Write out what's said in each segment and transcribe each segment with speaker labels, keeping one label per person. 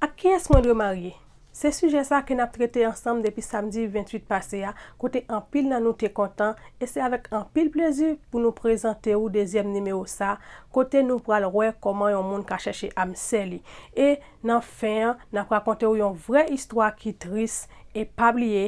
Speaker 1: Ak kiyès mwen dwe marye? Se sijè sa ke n ap trete ansanm depi samdi 28 pase a kote anpil nan nou te kontan e se avèk anpil plezi pou nou prezante ou dezyèm nimewo sa kote nou pral wè kòman yon moun ka chèche am sè li e nan fen an n ap rakonte ou yon vrè istwa ki tris e pa bliye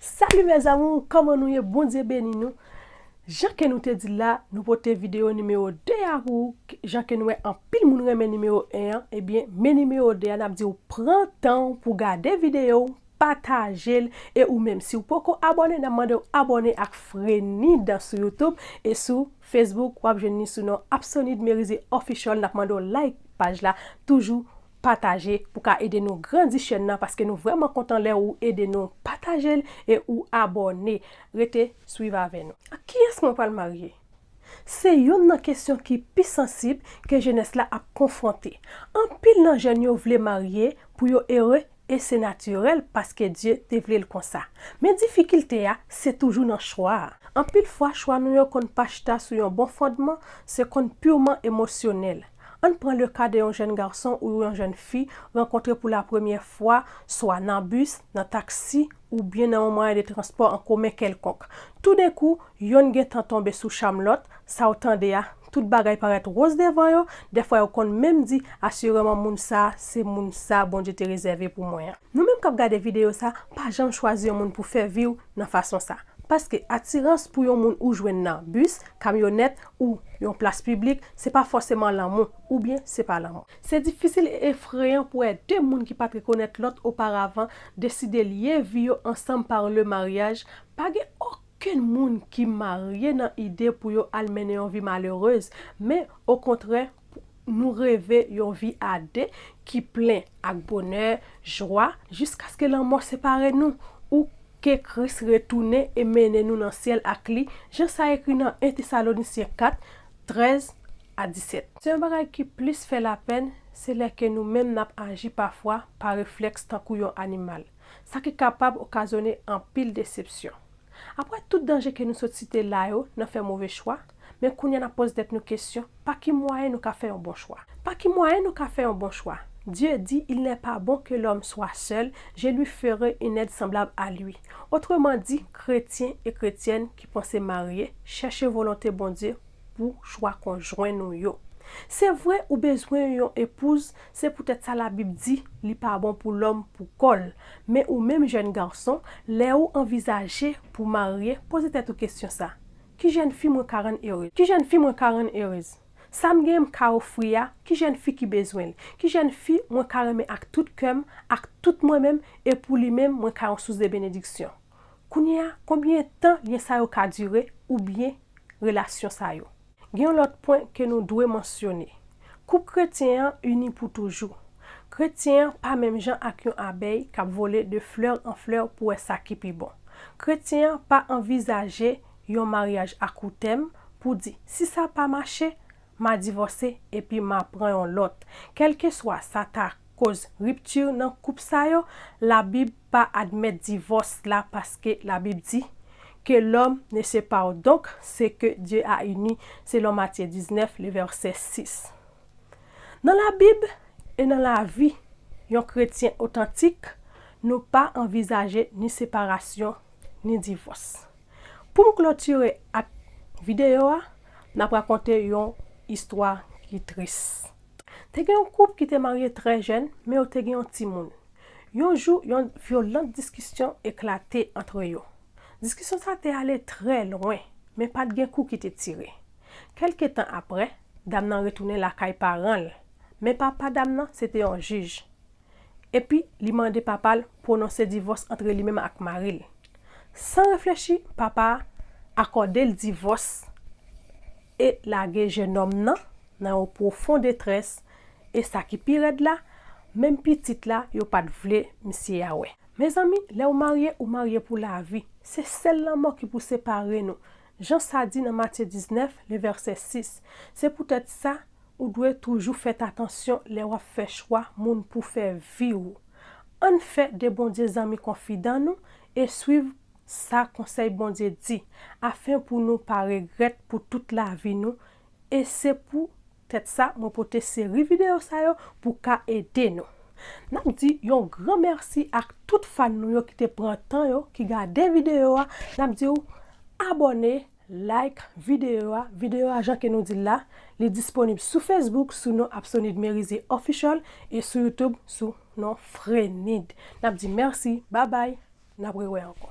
Speaker 1: Salut mes amours kòman nou ye Bondye beni nou Jan ke nou te dil la nou pote video nimero 2 a pou ou jan ke nou wè anpil moun renmen nimero 1 an ebyen men nimero 2 a nap diw pran tanw pou gade video w patajel e ou menm siw poko abòne nap mandew abòne ak Frenid sou YouTube e sou Facebook wap jwenn ni sou non Apsonid Merize Official nap mandew like paj la toujou pataje pou ka ede nou grandi chèn nan paske nou vrèman kontan lè ou ede nou patajel e ou abòne rete swiv avè nou. Ak kiyès mwen pral marye? Se youn nan kesyon ki pi sansib ke jenès la ap konfwonte. Anpil nan jèn yo vle marye pou yo ere e se natirèl paske Dye te vle l konsa. Men difikilte a se toujou nan chwa a. Anpil fwa chwa nou yo konn pa chita sou yon bon fondman, se konn pirman emosyonèl. Ann pran le ka de yon jèn gason ou yon jèn fi rankontre pou lapremyè fwa swa nan bis, nan taksi oubyen nan yon mwayen de transpò an komen kèlkonk. Toudenkou, yonn gen tan tonbe sou cham lòt, sa w tande a, tout bagay parèt woz devan yo, dèfwa yo konn menm di, asireman moun sa a se moun sa a Bondye te rezève pou mwen an. Nou menm k ap gade videyo sa a, pa janm chwazi yon moun pou fè vi w, nan fason sa. Paske atirans pou yon moun ou jwenn nan bis, kamyonèt ou yon plas piblik se pa fòseman lanmou oubyen se pa lanmou. Se difisil e efreyan pou wè de moun ki pa t rekonèt lòt oparavan deside lye vi yo ansanm par le mariage, pa gen okenn moun ki marye nan ide pou yo al mennen yon vi malerez men okontrè pou. Nou reve yon vi a de ki plen ak bonè, jwa, jiskaske lanmò separe nou, ou ke Kris retounen e mennen nou nan syèl ak li, jan sa ekri nan 1 Tesalonisyen 4, 13 a 17. Se yon bagay ki plis fè lapenn, se lè ke nou menm n ap aji pafwa pa reflèks tankou yon animal, sa ki kapab okazyone anpil desepsyon. Apre tout danje ke nou sot site la yo nan fè move chwa, men kounya nap poz tèt nou kesyon, pa ki mwayen nou ka fè yon bon chwa? Pa ki mwayen nou ka fè yon bon chwa? Dieu dit, il n'est pas bon que l'homme soit seul, je lui ferai une aide semblable à lui. Otreman di, kretyen e kretyèn ki panse marye, chèche volonte Bondye pou chwa konjwen nou yo. Se vre ou bezwen yon epouz, se poutèt sa Labib di, Li pa bon pou lòm pou kò l. Men ou menm jèn gason, lè ou anvizaje pou w marye, poze tèt ou kesyon sa, Ki jèn fi mwen ka rann erez? Ki jèn fi mwen ka rann erez? Sa m genyen m ka ofri a, ki jèn fi ki bezwen l? Ki jèn fi mwen ka renmen ak tout kè m, ak tout mwen menm, e pou li menm mwen ka yon sous de benediksyon? Kounye a, konbyen tan lyen sa yo ka dire, oubyen relasyon sa yo. Gen yon lòt pwen ke nou dwe mansyone. Koup kretyen an ini pou toujou. Kretyen an pa menm jan ak yon abèy kap vole de fleur en fleur pou wè sa ki pi bon. Kretyen an pa anvizaje yon maryaj a kou tèm pou di si sa pa mache, ma divòse epi ma pran yon lòt. Kèlkeswa sa ta koz ripti nan koup sa yo, labib pa admèt divòs la paske la bib di que l'homme ne se pare donc ce que Dieu a uni selon Matthieu 19 le verset 6 nan la bib e nan la vi yon kretyen otantik nou pa anvizaje ni separasyon ni divòs pou m klotire ak video a m ap rakonte yon istwa ki tris. Te gen yon koup ki te marye trè jèn men yo te gen yon timoun Yon jou, yon vyolant diskisyon eklate antre yo. Diskisyon sa te ale trè lwen, men pa t gen kou ki te tire. Kèlke tan apre, dam nan retounen lakay paran l, men papa dam nan se te yon jij. Epi, li mande papa l pwononse divòs antre li menm ak mari l. San reflechi, papa a akòde l divòs. e lage jenòm nan nan yon pwofon detrès e sa ki pi rèd la menm pitit la yo pat vle misye a wè. Mezanmi lèw marye ou marye pou lavi se sèl lanmò ki pou separe nou jan sa di nan Matye 19 le vèsè 6 se poutèt sa ou dwe toujou fèt atansyon lè wap fè chwa moun pou fè viw ann fè de Bondye zanmi konfidan nou e swiv Sa Konsèy Bondye di, Afin pou nou pa regrèt pou tout lavi nou, e se pou tèt sa mwen pote seri videyo sa yo pou ka ede nou. Nap di yon gran mèsi ak tout fan nou yo ki te pran tan yo, ki gade videyo a, nap diw abòne, like videyo a, videyo a jan ke nou dil la, li disponib sou Facebook sou non Apsonid Merizier Official e sou YouTube sou non Frenid. Nap di mèsi, babay, Nap rewè ankò.